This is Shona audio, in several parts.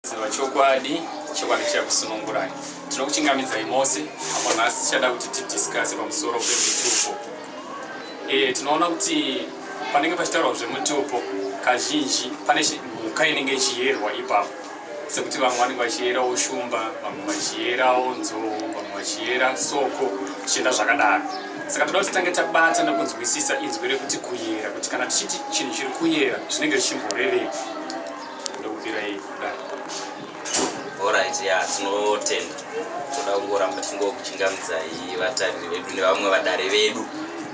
Ziva chokwadi, chokwadi chichakusunungurai. Tinokuchingamidzai mose apo nhasi tichada kuti tidiscase pamusoro pemitupo. E, tinoona kuti panenge pachitaurwa zvemutupo kazhinji pane mhuka inenge ichiyerwa ipapo sekuti vamwe vanenge vachiyerawo shumba vamwe vachiyerawo nzou vamwe vachiyera soko zvichienda zvakadaro saka toda kuti tange tabata nekunzwisisa inzwi rekuti kuyera kuti kana tichiti chinhu chiri kuyera zvinenge zvichimborevei ndokubirai kuda orit ya tinotenda toda kungoramba tingokuchingamidzai vatariri vedu nevamwe vadare vedu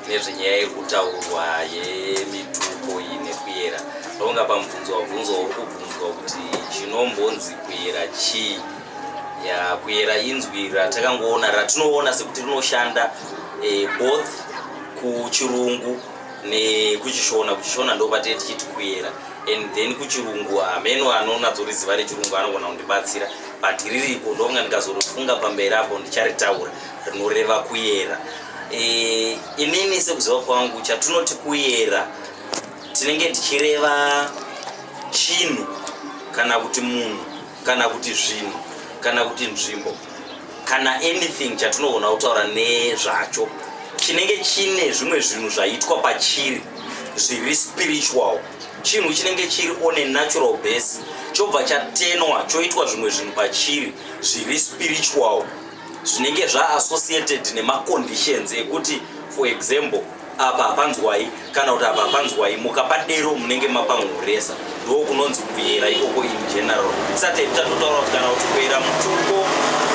nezvenyaya iri kutaurwa yemitupo iyi nekuyera ndonga pamubvunzo wabvunzo uri kubvunzwa kuti chinombonzi kuyera chii ya kuyera inzwi ratakangoona ratinoona sekuti rinoshanda eh, both kuchirungu nekuchishona kuchishona ndopatinee tichiti kuyera and then kuchirungu hameno anonatsoriziva rechirungu anogona kundibatsira but ririko ndonga ndikazorifunga pamberi apo ndicharitaura rinoreva kuyera e, inini sekuziva kwangu chatinoti kuyera tinenge tichireva chinhu kana kuti munhu kana kuti zvinhu kana kuti nzvimbo kana anything chatinogona kutaura nezvacho chinenge chine zvimwe zvinhu zvaitwa pachiri zviri spiritual chinhu chinenge chiri on a natural base chobva chatenwa choitwa zvimwe zvinhu pachiri zviri spiritual zvinenge zvaassociated nemaconditions ekuti for example apa hapanzwai kana kuti apa hapanzwai mukapadero munenge mapamhuresa ndo kunonzi kuyera ikoko in general sate tatotaura kuti kana kuti kuyera mutuko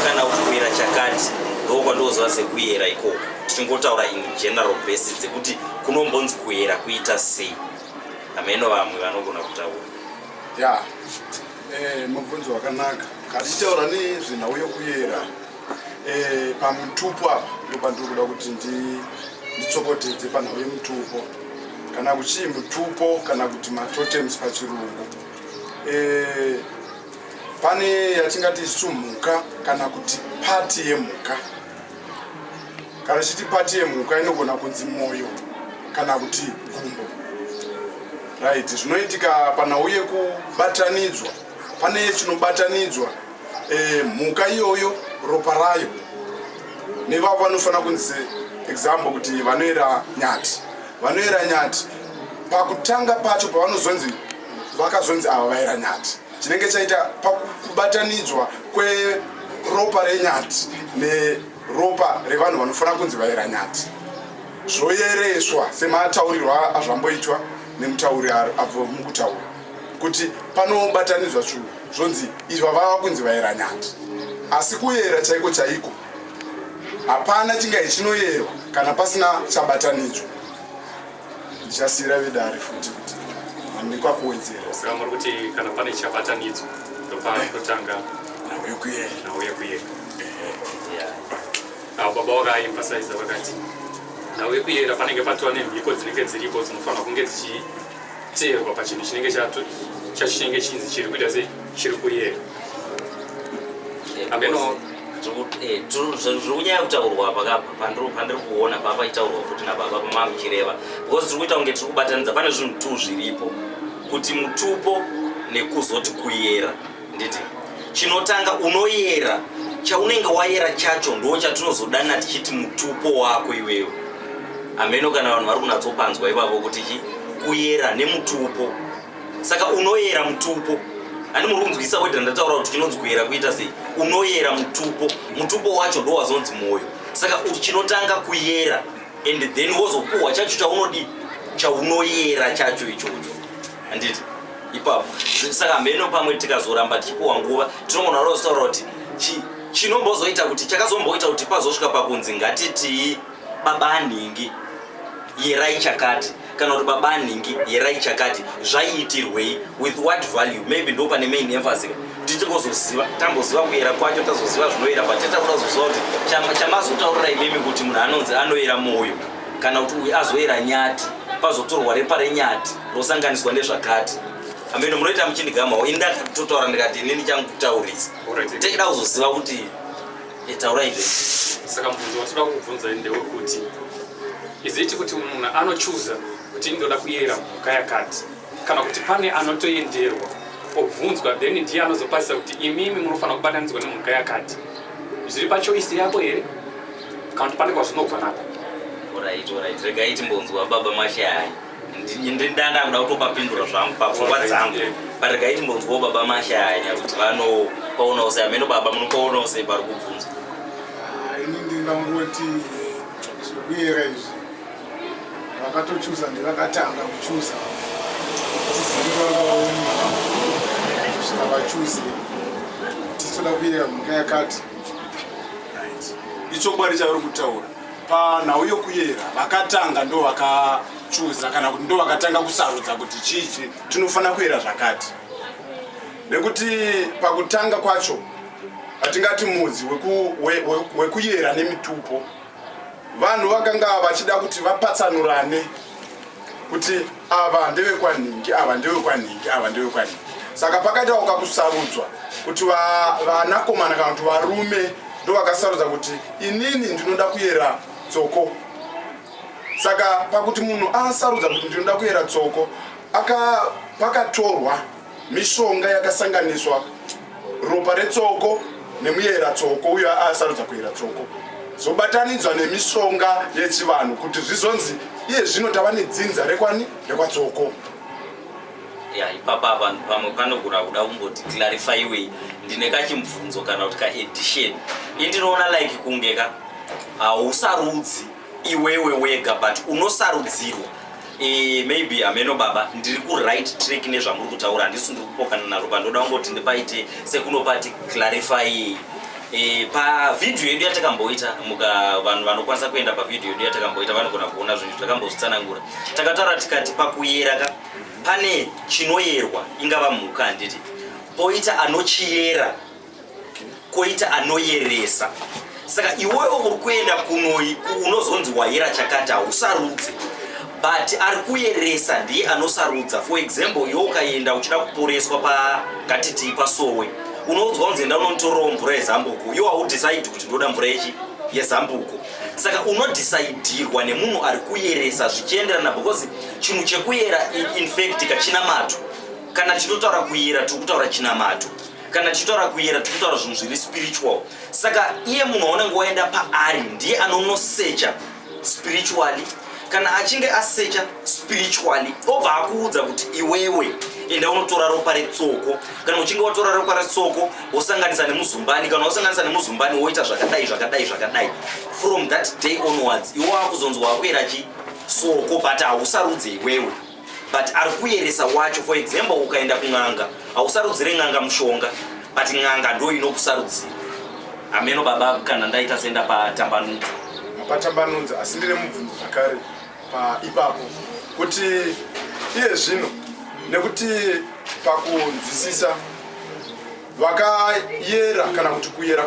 kana kuti kuyera chakati ndo kwandoziva sekuyera ikoko tichingotaura in general base dzekuti kunombonzi kuyera kuita sei hameno vamwe vanogona kutaura ya eh, mubvunzo wakanaka katichitaura nezvenhau yokuyera Eh, pamutupo apa ndopandiri kuda kuti nditsokotedze panhau yemutupo kana kuchii mutupo kana kuti matotems pachirungu eh, pane yatingati isu mhuka kana kuti pati yemhuka kana chiti pati yemhuka inogona kunzi mwoyo kana kuti gumbo right zvinoitika panhau yekubatanidzwa pane chinobatanidzwa eh, mhuka e, iyoyo ropa rayo nevavo vanofanira kunzi example kuti vanoera nyati vanoera nyati pakutanga pacho pavanozonzi vakazonzi ava vaera nyati chinenge chaita pakubatanidzwa kweropa renyati neropa revanhu vanofanira kunzi vaera nyati zvoyereswa semataurirwo azvamboitwa nemutauri avo mukutaura kuti panobatanidzwa zvinhu zvonzi izva vava kunzi vaera nyati asi kuyera chaiko chaiko hapana chingai chinoyerwa kana pasina chabatanidzwa ndichasiyira vedare futi kuti handikwa kuwedzera saka muri kuti kana pane chabatanidzwa ndopanotanga eh. nhau yekuyera nhau yekuyera avo baba vakaemphasiza vakati nhau yekuyera panenge patova nemhiko dzinenge dziripo dzinofanira kunge dzichii Teerwa pachinhu chinenge chato chacho chinenge chinzi chiri kuita sei chiri kuyera ameno zvokunyaya kutaurwa pakapa pandiri pandiri kuona papa itaurwa futi nababa pamava muchireva because tiri kuita kunge tiri kubatanidza pane zvinhu two zviripo kuti mutupo nekuzoti kuyera nditi chinotanga unoyera chaunenge wayera chacho ndo chatinozodana tichiti mutupo wako iweyo ameno kana vanhu vari kunatsopanzwa ivavo kuti chi kuyera nemutupo saka unoyera mutupo ani muri kunzwisa weda ndataura kuti chinonzi kuyera kuita sei unoyera mutupo mutupo wacho ndo wazonzi mwoyo saka chinotanga kuyera and then wozopuhwa chacho chaunodii chaunoyera chacho ichocho handiti ipapo saka mheno pamwe tikazoramba tichipuwa nguva tinogona rozotaura kuti chinombozoita kuti chakazomboita kuti pazosvika pakunzi ngatitii baba nhingi yerai chakati kana kuti baba nhingi yerai chakati zvaiitirwei with what value maybe ndo pane main emphasis tichikozoziva tamboziva kuyera kwacho tazoziva zvinoyera but tatakuda kuzoziva kuti chamazotaurira imimi kuti munhu anonzi anoyera mwoyo kana kuti uyu azoyera nyati pazotorwa repa renyati rosanganiswa nezvakati ameno munoita muchindigamawo ini ndakatotaura ndikati ini ndichangutaurisa techida kuzoziva kuti itaura izve saka mubvunzo watoda kubvunza ndewekuti iziti kuti munhu anochuza kuti ndoda kuyera mhuka yakati kana kuti pane anotoenderwa obvunzwa then ndiye anozopasisa kuti imimi munofanira kubatanidzwa nemhuka yakati zviri pachoisi yako here kana kuti pane kwazvinobva nako orit orit rega iti mbonzwa baba mashaya ndindaa ndakuda kutopapindura zvangu papfungwa dzangu parega iti mbonzwawo baba mashaya kuti vanopaona ose ameno baba munopaona ose pari kubvunzwa ah, ini ndingangoti zvekuyera izvi vakatochuza ndivakatanga kuchuza tisizivaausvika vachuze tisoda kuyera mhuka yakati ichokwadi chauri kutaura panhau yokuyera vakatanga ndo vakachuza kana kuti ndo vakatanga kusarudza kuti chichi tinofanira kuyera zvakati nekuti pakutanga kwacho hatingati mudzi wekuyera nemitupo vanhu vakanga vachida kuti vapatsanurane kuti ava ndevekwanhingi ava ndevekwanhingi ava ndevekwanhingi saka pakaita wakakusarudzwa kuti vanakomana kana kuti varume ndovakasarudza kuti inini ndinoda kuyera tsoko saka pakuti munhu asarudza kuti ndinoda kuyera tsoko pakatorwa Mishonga yakasanganiswa ropa retsoko nemuyera tsoko uyo asarudza kuyera tsoko zvobatanidzwa nemishonga yechivanhu kuti zvizonzi iye zvino tava nedzinza rekwani rekwatsoko ya ipapa vanhu pamwe panogona kuda kumboti clarifyiwei ndine kachimubvunzo kana kuti kaedition indinoona like kunge ka hausarudzi uh, iwewe wega but unosarudzirwa e, maybe hameno baba ndiri kuright track nezvamuri kutaura handisi ndiri kupokana naro pandoda kungoti ndipaite sekunopati clarify e, pavhidhiyo yedu yatakamboita muka vanhu vanokwanisa kuenda pavhidhiyo yedu yatakamboita vanogona kuona zvinhu takambozvitsanangura takataura tikati pakuyera ka pane chinoyerwa ingava mhuka handiti poita anochiyera koita anoyeresa saka iwewe uri kuenda kunoi unozonzi wayera chakati hausarudze but ari kuyeresa ndiye anosarudza for example iwe ukaenda uchida kuporeswa pakatitii pasowe unoudzwa kunzi enda unotorawo mvura yezambuko iwe haudhisaidi kuti ndoda mvura yechi yezambuko saka unodhisaidirwa nemunhu ari kuyeresa zvichienderana because chinhu chekuyera infact kachinamato kana chinotaura kuyera tiri kutaura chinamato kana tichitaura kuyera tiri kutaura zvinhu zviri spiritual saka iye munhu waunenge waenda paari ndiye anonosecha spiritually kana achinge asecha spiritually obva akuudza kuti iwewe enda unotora ropa retsoko kana uchinge watora ropa retsoko wosanganisa nemuzumbani kana wosanganisa nemuzumbani woita zvakadai zvakadai zvakadai from that day onwards iwo akuzonzwa akuera chi soko but hausarudze iwewe but ari kuyeresa wacho for example ukaenda kun'anga hausarudzire n'anga mushonga but n'anga ndo inokusarudzira ameno baba kana ndaita senda patambanudza patambanudza asi ndine mubvunzo zvakare paipapo kuti iye zvino nekuti pakunzwisisa vakayera kana kuti kuyera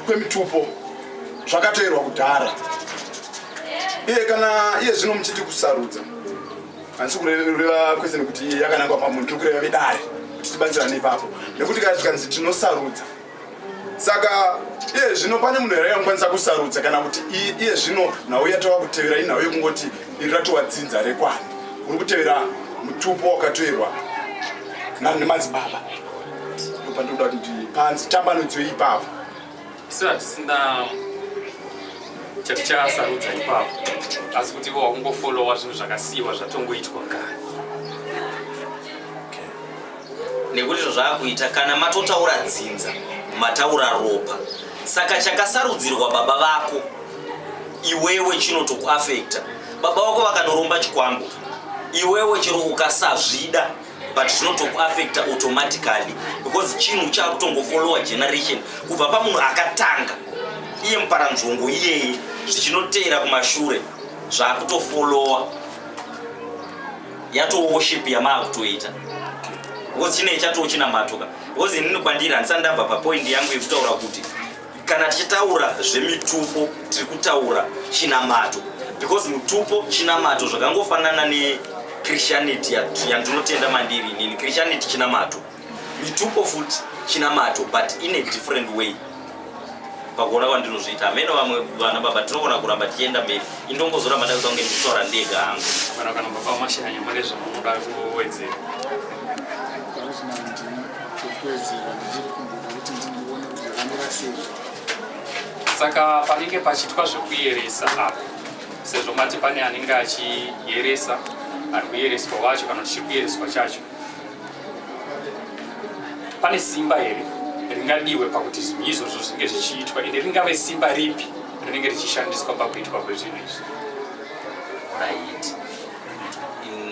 kwemitupo zvakatoerwa kudhara iye kana iye zvino muchiti kusarudza handisi kureva kwese nekuti iye yakanangwa pamunhu tiri kureva vedare kuti tibatsirane ipapo nekuti kana tikanzi tinosarudza saka iye zvino pane munhu here anokwanisa kusarudza kana kuti iye zvino nhau yatova kutevera inhau yekungoti iri ratova dzinza rekwani uri kutevera mutupo wakatoerwa nemadzibaba Pandoda kuti panzi tambanudzo ipapo. Sio tisina chatichasarudza ipapo asi kuti ivo wakungofolowa zvinhu zvakasiyiwa zvatongoitwa kare nekuti izvo zvaakuita kana matotaura dzinza mataura ropa saka chakasarudzirwa baba vako iwewe chinotokuafekta baba vako vakanoromba chikwambo iwewe chero ukasazvida but zvinotokuaffecta automatically because chinhu chakutongofollowa generation kubva pamunhu akatanga iye muparanzvongo iyeye zvichinoteera kumashure zvakutofollowa yatoworship yamaakutoita because chinei chatoo chinamatoka because inini kwandiri handisandabva papoindi yangu yekutaura kuti Kana tichitaura zvemitupo tiri kutaura chinamato because mutupo chinamato zvakangofanana nechristianity yandinotenda mandiri inini christianity chinamato mitupo futi chinamato but in a different way pakuona kwandinozviita hameno vamwe vana baba tinogona kuramba tichienda mberi indongozoramba ndakuda kunge ndikutaura ndega hangu kana kana baba mashanya mune zvamunoda kuwedzera kuwedzera ndichiri kumboda kuti ndindione saka panenge pachitwa zvekuyeresa apo sezvo mati pane anenge achiyeresa ari kuyereswa wacho kana kuti chiri kuyereswa chacho pane simba here ringadiwe pakuti zvinhu izvozvo zvinge zvichiitwa ende ringave simba ripi rinenge richishandiswa pakuitwa kwezvinhu izvi right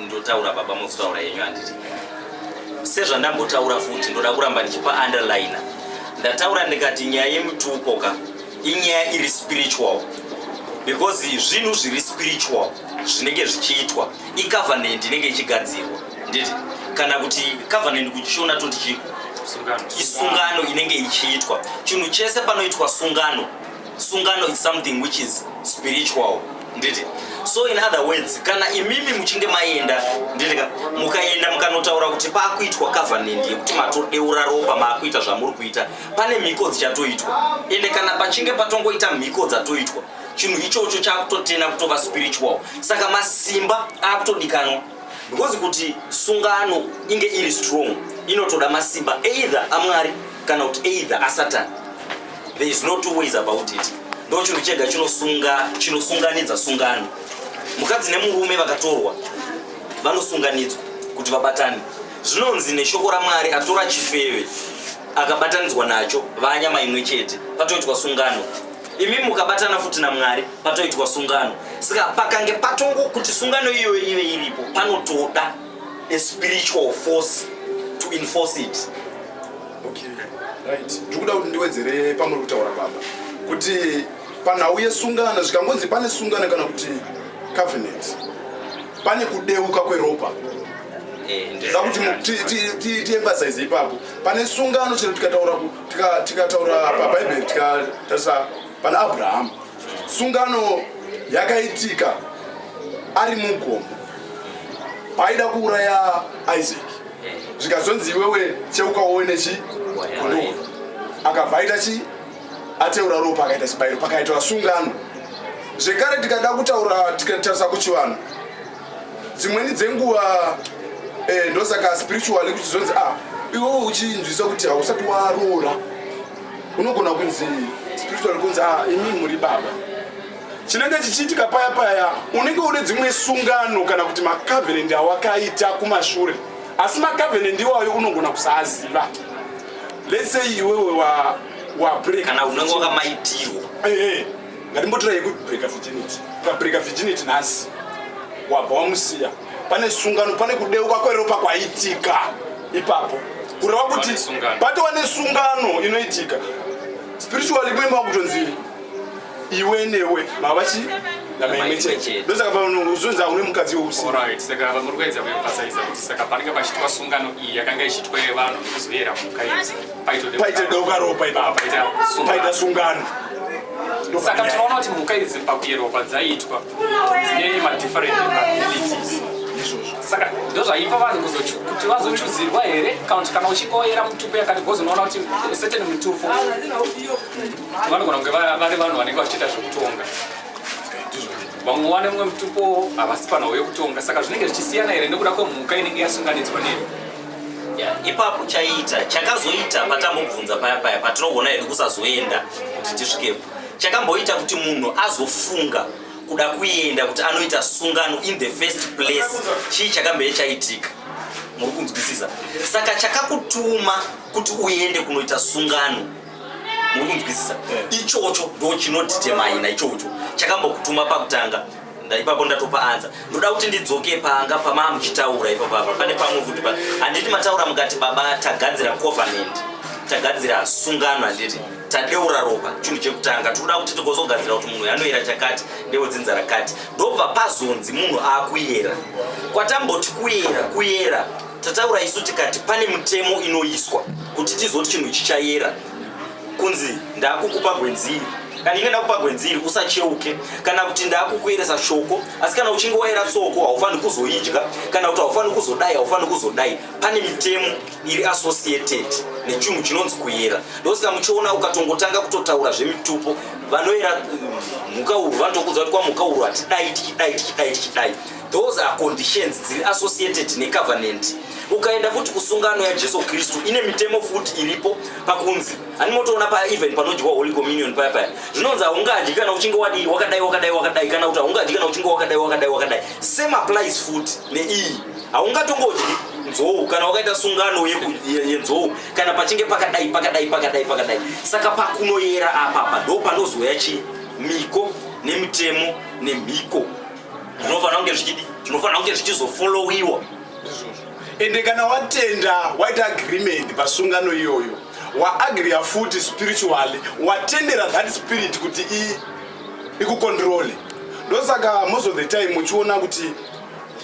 ndotaura baba mozotaura yenyu handiti sezvandambotaura futi ndoda kuramba ndichipa underliner ndataura ndikati nyaya yemutupo ka inyaya iri spiritual because zvinhu zviri spiritual zvinenge zvichiitwa icovenant inenge ichigadzirwa nditi kana kuti covenant kuchishona toti chiko isungano inenge ichiitwa chinhu chese panoitwa sungano sungano is something which is spiritual nditi so in other words kana imimi muchinge maenda nditika mukaenda mukanotaura kuti pakuitwa covenant yekuti matodeura ropa maakuita zvamuri kuita pane mhiko dzichatoitwa ende kana pachinge patongoita mhiko dzatoitwa chinhu ichocho chakutotena kutova spiritual saka masimba akutodikanwa because kuti sungano inge iri strong inotoda masimba either amwari kana kuti either asatan there is no two ways about it ndo chinhu chega chinosunga chinosunganidza sungano mukadzi nemurume vakatorwa vanosunganidzwa kuti vabatane zvinonzi neshoko ramwari atora chifeve akabatanidzwa nacho vanyama imwe chete patoitwa sungano imi mukabatana futi namwari patoitwa sungano saka pakange patongo kuti sungano iyoyo ive iripo panotoda a spiritual force to enforce it okay. right. ndikuda kuti ndiwedzere pamuri kutaura baba kuti panhau yesungano zvikangonzi pane sungano kana kuti covenant pane kudeuka kweropa eh, zvakuti tiemphasize ipapo pane sungano chero tikataura tikataura pabhaibheri tikatarisa pana abrahamu sungano yakaitika ari mugomo paaida kuuraya isaac zvikazonzi iwewe cheukawowe nechi kondoo akabva aita chi ateura ropa akaita chibayiro pakaitwa sungano zvekare tikada kutaura tikatarisa kuchivanhu dzimweni dzenguva eh, ndosaka spiritually kuchizonzi ah iwewe uchinzwisa kuti hausati waroora unogona kunzi spiritual kunzi ah imi muri baba chinenge chichiitika paya paya unenge une dzimwe sungano kana kuti macovenant awakaita kumashure asi macovenant iwayo unogona kusaaziva let's say iwewe wa wa break kana unenge wakamaitirwa eh, eh. ngatimbotora yekubreaker virginity ukabreaker virginity nhasi wabva wamusiya pane sungano pane kudeuka kweropa kwaitika ipapo kureva kuti patova nesungano inoitika spiritually mwe makutonzi iwe newe mavachi ndosaka paunozonza une mukadzi weusiaka vamuri kuedza kuemphasiza kuti saka panenge pachiitwa sungano iyi yakanga ichiitwa yevanhu kuzoyera mhuka idzi paita dauka ropa ipapa paita sungano saka tinoona kuti mhuka idzi pakuyeropa dzaiitwa dzine madifferent abilities saka ndozvaipa vanhu kuti vazochuzirwa here kana kuti kana uchikoyera mutupo yakati bcoz unoona kuti certain mutupo vanogona kunge vari vanhu vanenge vachiita zvekutonga vamwe wane mumwe mutupo havasi panhau yekutonga saka zvinenge zvichisiyana here nekuda kwemhuka inenge yasunganidzwa nemi ipapo chaiita chakazoita patambobvunza paya paya patinoona hedu kusazoenda kuti tisvikepo chakamboita kuti munhu azofunga kuda kuenda kuti anoita sungano in the first place chii chakambee chaitika muri kunzwisisa saka chakakutuma kuti uende kunoita sungano muri kunzwisisa eh. ichocho ndo chinodhitemaina ichocho chakambokutuma pakutanga ndaipapo ndatopa anza ndoda kuti ndidzoke panga pamaa muchitaura ipapapa pane pamwe futi pa handiti mataura mukati baba tagadzira covenant tagadzira sungano handiti tadeura ropa chinhu chekutanga tikuda kuti tikozogadzira kuti munhu anoyera chakati ndewedzinza rakati ndobva pazonzi munhu akuyera kwatamboti kuyera kuyera tataura isu tikati pane mutemo inoiswa kuti tizoti chinhu chichayera kunzi ndakukupa gwenziri kana inge ndakupa gwenziri usacheuke kana kuti ndakukueresa shoko asi kana uchinge waera tsoko haufaniri kuzoidya kana kuti haufaniri kuzodai haufaniri kuzodai pane mitemo iri associated nechinhu chinonzi kuyera ndosaka muchiona ukatongotanga kutotaura zvemitupo vanoera mhuka uru vanotokuudza kuti kwamhuka uru hatidai tichidai tichidai tichidai Those are conditions dziri associated necovenant. Ukaenda futi kusungano yaJesu Kristu ine mitemo futi iripo pakunzi ani motoona pa even panodyiwa Holy Communion paya paya zvinonzi haungadyi kana uchinge wadii wakadai wakadai wakadai kana kuti haungadyi kana uchinge wakadai wakadai wakadai same applies futi neiyi haungatongodyi nzou kana wakaita sungano yenzou kana pachinge pakadai pakadai pakadai pakadai saka pakunoyera apapa ndo panozoya chii miko nemitemo nemhiko zvinofanira kunge zvichidi zvinofanira kunge zvichizofollowiwa ende kana watenda waita agreement pasungano iyoyo waagriya futi spiritually watendera that spirit kuti ikukontrole ndosaka most of the time muchiona kuti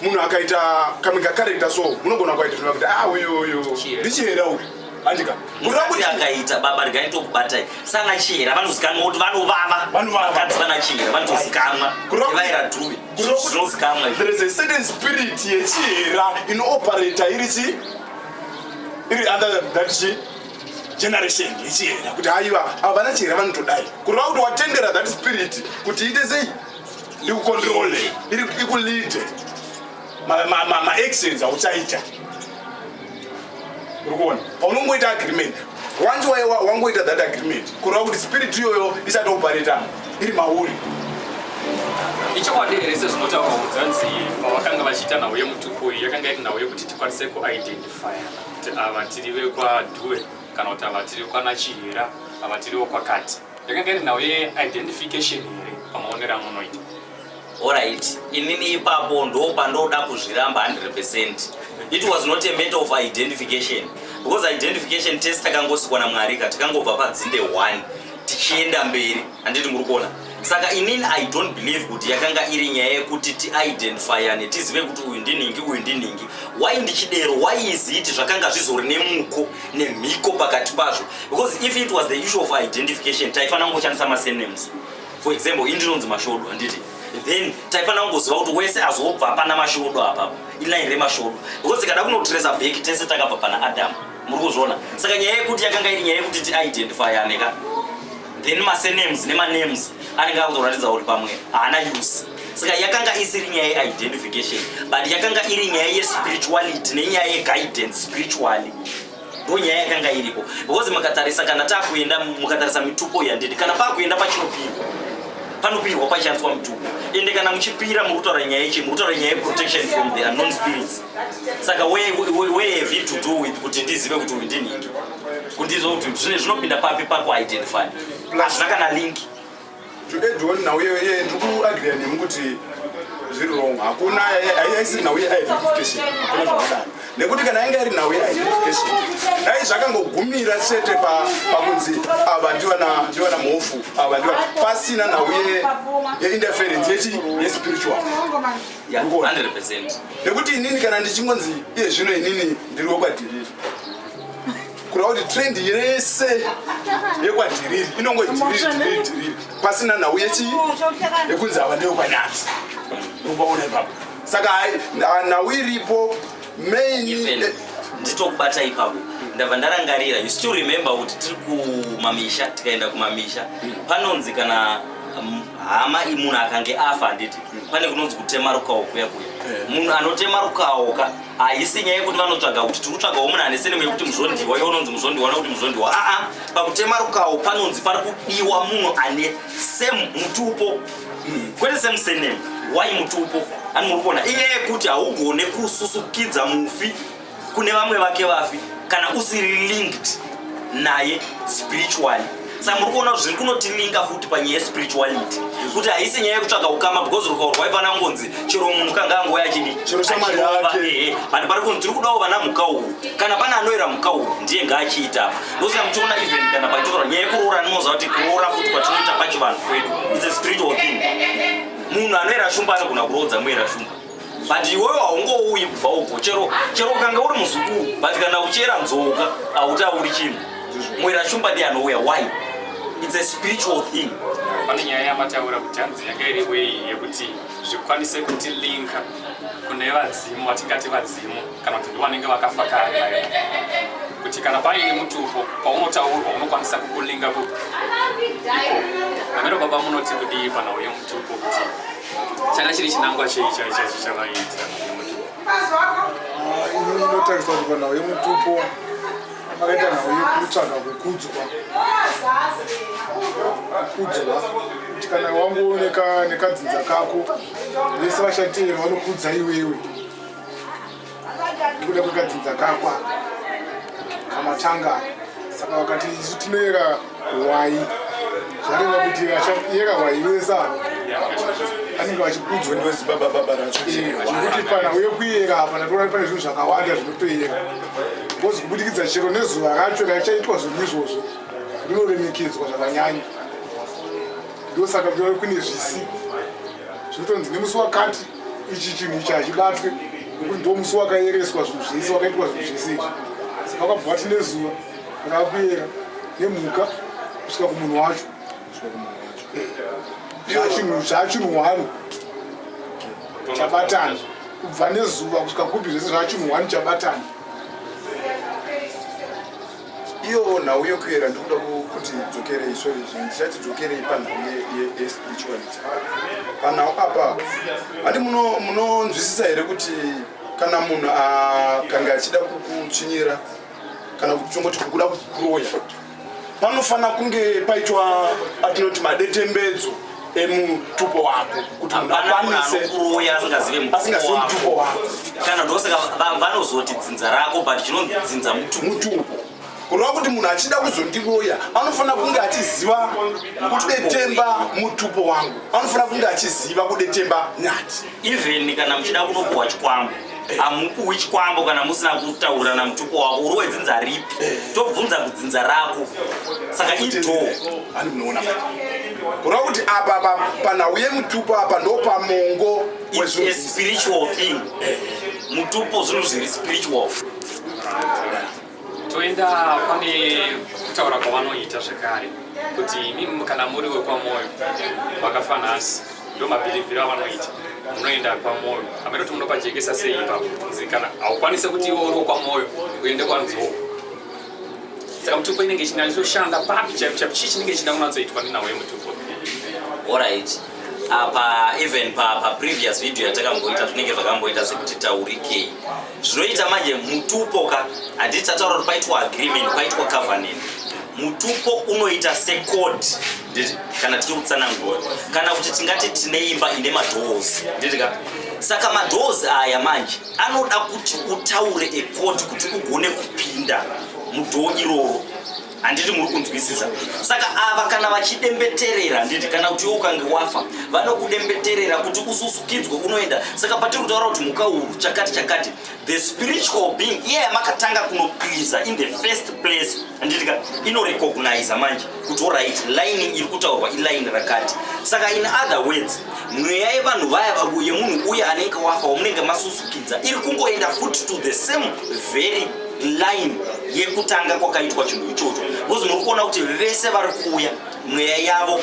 munhu akaita kamwe kacharacter so munogona kwaita kuti ah uyu uyu ndichihera uyu Andika. Musati akaita baba regai tokubatai. Sana chihera vanozikanwa kuti vanovava. Vanovava. Vakadzi vana chihera vanozikanwa. Vaira dhuvi. Zvinozikanwa. There is a certain spirit yechihera inooperator iri chi iri under that chi generation yechihera kuti haiwa ava vana chihera vanotodai. Kureva kuti watendera that spirit kuti ite sei? Ikukontrole. Iri ikulite. maactions auchaita urikuona paunongoita agreement once wangoita that agreement kureva kuti spirit iyoyo isatopareta iri mauri ichokwadi here sezvinotaurwa kudzanzi pavakanga vachiita nhau yemutupo iyi yakanga iri nhau yekuti tikwanise kuidentifya kuti ava tiri vekwadue kana kuti ava tiri kwanachihera ava tiriwo kwakati yakanga iri nhau yeidentification here pamaonero amunoita Alright, inini ipapo ndopandoda kuzviramba 100%. It was not a matter of identification because identification test takangosikwa naMwari ka takangobva padzinde 1 tichienda mberi handiti muri kuona saka inini i don't believe kuti yakanga iri nyaya yekuti tiidentifyane tizive kuti uyu ndinhingi uyu ndinhingi why ndichidero why is it zvakanga zvizori nemuko nemhiko pakati pazvo because if it was the issue of identification taifanira kungoshandisa masenames for example ini ndinonzi mashodo handiti then taifanira kungoziva kuti wese azobva pana mashodo apa iline remashodo because tikada kunotresa back tese takabva pana adam muri kuzviona saka nyaya yekuti yakanga iri nyaya yekuti tiidentify aneka then masenames nemanems anenge akutoratidza kuti pamwe haana use saka yakanga isiri nyaya yeidentification but yakanga iri nyaya yespirituality nenyaya yeguidance spiritually ndipo nyaya yakanga iripo because mukatarisa kana takuenda mukatarisa mitupo yandidi kana pakuenda pachinopirwa panopirwa pachishandiswa mitupo ende kana muchipira muri kutaura nyaya yechi muri kutaura nyaya yeprotection from the unknown spirits saka where have it to do with kuti ndizive kuti uyu ndinhingi kundiziva kuti zvine zvinopinda papi pakuidentify hazvina kana linki Today John nhau iyoyo iye ndiri kuagreya nemi kuti zviri wrong. Hakuna haisiri nhau yeidentification. Hakuna zvakadaro. Nekuti kana yanga iri nhau yeidentification dai zvakangogumira chete pakunzi ava ndivana ndivana mhofu ava ndiva pasina nhau yeinterference yechi yespiritual. Yeah, 100%. Nekuti inini kana ndichingonzi iye zvino inini ndiri wekwadhiriri. Kura kuti trend yese yekwadhiriri inongo dhiriri pasina nhau yechi yekunzi ava ndeyo kwanyati ubaona ipapo saka nhau iripo main eh, nditokubata ipapo ndabva ndarangarira you still remember kuti tiri kumamisha tikaenda kumamisha hmm. panonzi kana um, hama imunhu akange afa handiti hmm. pane kunonzi kutemarukawo kuya kuya eh. munhu anotemarukawoka haisi nyaya yekuti vanotsvaga kuti tiri kutsvagawo munhu ane senemu yekuti muzvondiwa iwe unonzi muzvondiwa kana kuti muzvondiwa aa pakutema rukawo panonzi pari kudiwa munhu ane same mutupo kwete same senemu why mutupo ani muri kuona iye yekuti haugone kususukidza mufi kune vamwe vake vafi kana usiri linked naye spiritually saka muri kuona zviri kunotilinga futi panyaya yespirituality kuti haisi nyaya yekutsvaga ukama because rukauro rwaifana kungonzi chero munhu kanga angouya achidi but pari kunzi tiri kudawo vana mukauru kana pane anoera mukauru ndiye ngaachiita ndosaka muchiona even kana pachitora nyaya yekuroora ndinoziva kuti kuroora futi kwatinoita pachivanhu kwedu its a spiritual thing munhu anoera shumba anogona kuroodza muera shumba but iwewe haungouyi kubva uko chero chero ukanga uri muzukuru but kana uchera nzoka hautauri chinhu mwera shumba ndi anouya why its a spiritual thing pane nyaya yamataura kuti hanzi yanga iri wei yekuti zvikwanise kuti linka kune vadzimu vatingati vadzimu kana kuti ndivanenge vakafa kare kuti kana paine mutupo paunotaurwa unokwanisa kukulinga kuiko amero baba munoti kudii pana uyo mutupo kuti changa chiri chinangwa chei chai chacho chavaiitira yemutupo ini ndinotarisa kuti panhau yemutupo akaita nhau yekutsvaga kukudzwa kukudzwa kuti kana wangu nekadzinza kako vese vashatiri vanokudza iwewe tikuda kugadzidza kakwa kamatanga saka wakati isu tinoyera hwai zvareva kuti vachayera hwai vese anenge vachikudzwa ndozibabababarazvekuti pana uye kuyera apa natoona pane zvinhu zvakawanda zvinotoyera bcoz kubudikidza chero nezuva racho raichaitwa zvinhu izvozvo rinoremekedzwa zvakanyanya ndosaka kune zvisi zvinotonzi nemusi wakati ichi chinhu ichi hachibatwe nekuti ndo musi wakayereswa zvinhu zvese wakaitwa zvinhu zvese izvi saka vakabva vati nezuva rakakuyera nemhuka kusvika kumunhu wacho zvachinhu zvachinhu one chabatana kubva nezuva kusvika kupi zvese zvachinhu one chabatana Iyo nhau yokuyera ndikuda kuti dzokerei sorry ndichati dzokerei panhau yespirituality panhau apa handi munonzwisisa here kuti kana munhu akange achida kukutsvinyira kana kutongoti kukuda kukuroya panofanira kunge paitwa atinoti madetembedzo emutupo wako kuti munhu akwanise kuroya asingazive mutupo wako kana ndosaka vanozoti dzinza rako but chinonzi dzinza mutupo kureva kuti munhu achida kuzondiroya anofanira kunge achiziva kudetemba mutupo wangu anofanira kunge achiziva kudetemba nyati even kana muchida kunopuhwa chikwambo hamupuhwi chikwambo kana musina kutaura namutupo wako uri wedzinza ripi tobvunza kudzinza rako saka idoo kureva kuti apa panhau yemutupo apa ndopamongo spiritual thing mutupo zvinhu zviri spiritual toenda pane kutaura kwavanoita zvekare kuti imi kana muri wekwamoyo vakafanhasi ndo mabhirivhiri avanoita munoenda kwamoyo hameno kuti munopajekesa sei ipapo kunzi kana haukwanise kuti iwe uri wekwamoyo uende kwanzou saka mutupo inenge ichinatoshanda papi chaipo chaipo chii chinenge chichida kunatsoitwa nenawo yemutupo orit apa even paprevious video yatakamboita zvinenge zvakamboita sekuti taurikei zvinoita manje mutupo ka handii tataura kuti paitwa agreement paitwa covenant mutupo unoita secode nditi kana tichiri kutsanangura kana kuti tingati tine imba ine madoors nditi ka saka madoors aya manje anoda kuti utaure ecode kuti ugone kupinda mudhoo iroro handiti muri kunzwisisa saka ava kana vachidembeterera handiti kana kuti iwe ukange wafa vanokudembeterera kuti ususukidzwe unoenda saka patiri kutaura kuti mhuka uru chakati chakati the spiritual being iye yamakatanga kunokwiza in the first place handiti ka inorecogniza manje kuti orit line iri kutaurwa iline rakati saka in other words mweya yevanhu vaya yemunhu uye anenge wafa wamunenge masusukidza iri kungoenda futi to the same very line yekutanga kwakaitwa chinhu ichocho bcause muri kuona kuti vese vari kuuya mweya yavo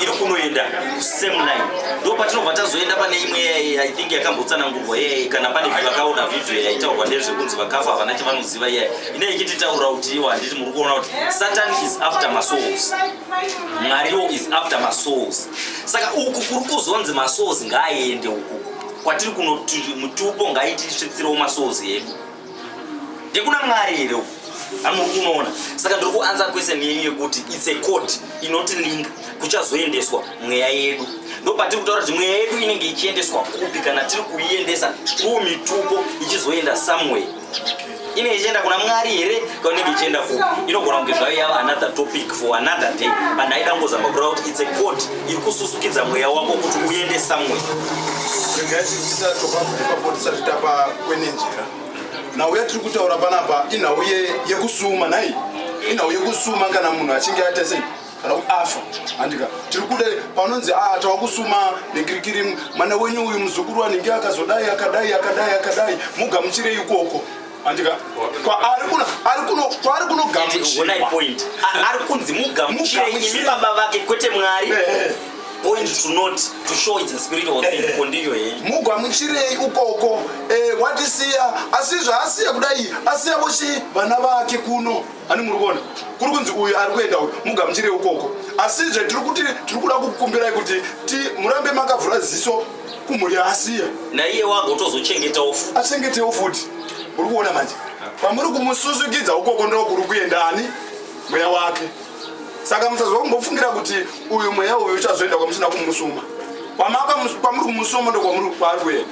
iri kunoenda kusame line ndo patinobva tazoenda pane imwe yaiye i think yakambotsanangurwa yeye kana pane vakaona vhidhiyo yaitaurwa ndezvekunzi vakafa havana chavanoziva iyaye ine ichititaura kuti iwo handiti muri kuona kuti satan is after masouls mwariwo is after masouls saka uku kuri kuzonzi masouls ngaaende uku kwatiri kunoti mutupo ngaitisvitsirewo masouls edu ndekuna mwari here uku amuri kunoona saka ndiri kuansa kwese nyenyu yekuti its a code inoti link kuchazoendeswa mweya yedu ndopatiri kutaura kuti mweya yedu inenge ichiendeswa kupi kana tiri kuiendesa through mitupo ichizoenda somewhere inenge ichienda kuna mwari here kaunenge ichienda ku inogona kunge zvayo yava another topic for another day but ndaida kungozama kureva kuti its a god iri kususukidza mweya wako kuti uende somewhere tisatopapotsaitapa kwene njira nhau yatiri kutaura panapa inhau yekusuma nhai inhau yekusuma kana munhu achinge aita sei kana kuti afa handika tiri kuda panonzi a ah, tava kusuma nekirikiri mwana wenyu uyu muzukuru anenge akazodai akadai akadai akadai mugamuchirei ikoko handika kwaari kunogamuchirwaari kunzi mugamuchirei baba vake kwete mwari eh, eh. point to not to show its spirit or thing eh, kondiyo eh. he mugwamuchirei ukoko eh, watisiya asi zvaasiya kudai asiya vochi vana vake kuno ani muri kuona kuri kunzi uyu ari kuenda uyu mugamuchire ukoko asizve tiri kuti tiri kuda kukumbirai kuti ti murambe makavhura ziso kumhuri yaasiya naiye wago tozochengetawo futi achengetewo futi muri kuona manje pamuri kumususukidza ukoko ndo kuri kuenda ani mweya wake saka musazwa kumbofungira kuti uyu mweya uyu uchazoenda kwamusina kumusuma kwamaka kwamuri kumusomo ndokwamuri kwari kuenda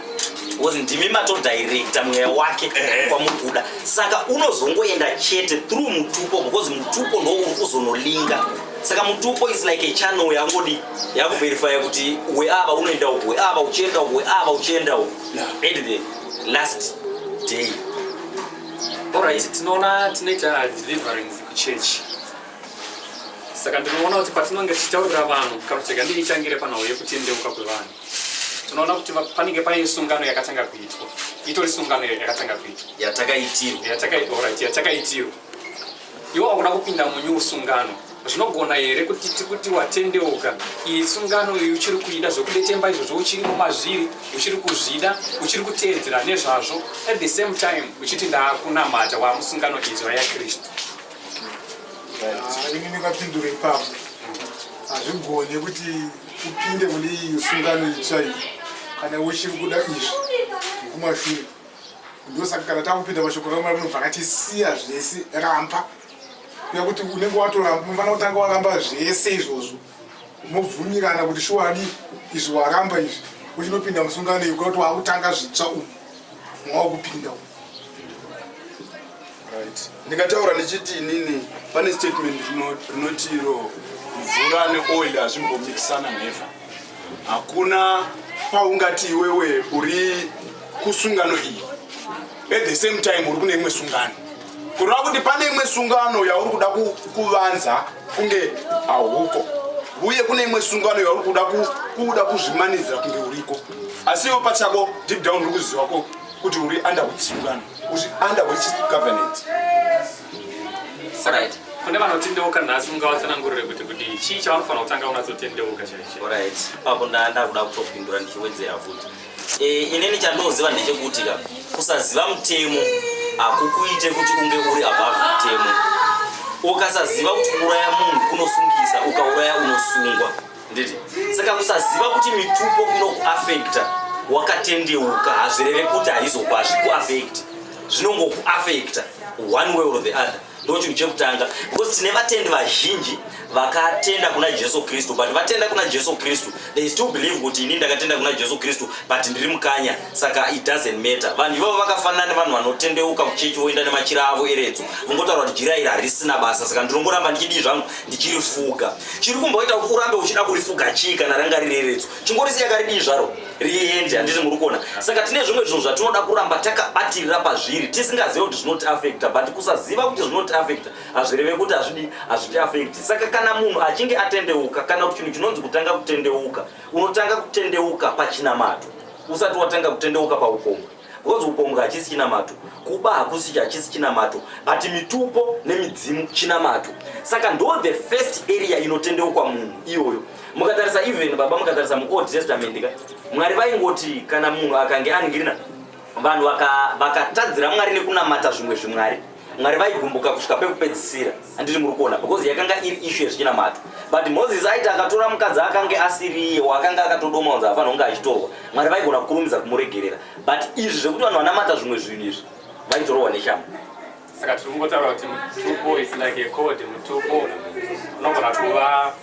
because ndimi matodirecta mweya wake eh, eh. kwamuri kuda saka unozongoenda chete through mutupo because mutupo ndo uri kuzonolinga saka mutupo is like a channel yangodi yakuverifya kuti we ava unoenda uku we ava uchienda uku we ava uchienda uku at the last day alright tinoona tinoita deliverance kuchurch saka ndinoona kuti patinonge tichitaurira vanhu kana kuti rega ndichitangire panhau yekutendeuka kwevanhu tinoona kuti panenge paine sungano yakatanga kuitwa itori sungano yakatanga kuitwa yatakaitirwa yatakaiora yatakaitirwa iwo akuda kupinda munyu usungano zvinogona here kuti tikuti watendeuka iyi sungano iyi uchiri kuida zvekudetemba izvozvo uchiri mumazviri uchiri kuzvida uchiri kuteedzera nezvazvo at the same time uchiti ndaakunamata waamusungano idzva yakristu ini ndingapindura ipapo hazvigone kuti upinde mune iyi sungano itsva iyi kana uchiri kuda izvi zvekumashure ndosaka kana takupinda mashoko kamwe munobva akatisiya zvese ramba kuya kuti unenge watoramba unofana kutanga waramba zvese izvozvo mobvumirana kuti shuwadi izvi waramba izvi uchinopinda musungano yekuda kuti wakutanga zvitsva umu mwaukupinda umu ndikataura ndichiti inini pane statement rinoti iro mvura neoil hazvimbomikisana never hakuna paungati iwewe uri kusungano iyi at the same time uri kune imwe sungano kureva kuti pane imwe sungano yauri kuda kuvanza kunge hauko uye kune imwe sungano yauri kuda kuda kuzvimanidzira kunge uriko asi iwe pachako deep down uri kuziva ko kuti uri under which sungano uri under which government right. kune vanotendeuka nhasi mungavatsanangurire kuti kuti chii chavanofanira kutanga unatsotendeuka chaicho right. papo ndaa ndakuda kutopindura ndichiwedzera futi Eh, inini chandinoziva ndechekuti ka kusaziva mutemo hakukuite kuti unge uri above mutemo ukasaziva kuti kuuraya munhu kunosungisa ukauraya unosungwa nditi saka kusaziva kuti mitupo inokuafekta wakatendeuka hazvireve kuti haizokuazvikuafekti zvinongokuafekta one way or the other ndochinhu chekutanga because tine vatendi vazhinji vakatenda kuna jesu kristu but vatenda kuna jesu kristu they still believe kuti ini ndakatenda kuna jesu kristu but ndiri mukanya saka it doesn't matter vanhu ivavo vakafanana nevanhu vanotendeuka kuchechi voenda nemachira avo eredzo vongotaura kuti jira iri harisina basa saka ndinongoramba ndichidii zvangu ndichirifuga chiri kumboita kuti urambe uchida kurifuga chii kana ranga riri eredzo chingorisiya karidii zvaro riende handiti muri kuona saka tine zvimwe zvinhu zvatinoda kuramba takabatirira pazviri tisingazive kuti zvinoti afekta but kusaziva kuti zvinoti afekta hazvireve kuti hazvidi hazviti afekti saka kana munhu achinge atendeuka kana kuti chinhu chinonzi kutanga kutendeuka unotanga kutendeuka pachinamato usati watanga kutendeuka paukomba Because upombwe hachisi chinamato, kuba hakusi hachisi chinamato, but mitupo nemidzimu chinamato. Saka ndo the first area inotendeukwa munhu iyoyo. Mukatarisa even baba mukatarisa mu Old Testament ka Mwari vaingoti kana munhu akange aningirina vanhu vakatadzira vaka Mwari nekunamata zvimwe zvimwari. mwari vaigumbuka kusvika pekupedzisira handiti muri kuona because yakanga iri ishu yezvinamato but moses aiti akatora mukadzi akange asiri iye waakanga akatodoma unzi afanira kunge achitorwa mwari vaigona kukurumidza kumuregerera but izvi zvekuti vanhu vanamata zvimwe zvinhu izvi vaitorohwa neshamhu saka tiri kungotaura kuti mutupo is like a code mutupo unogona kuva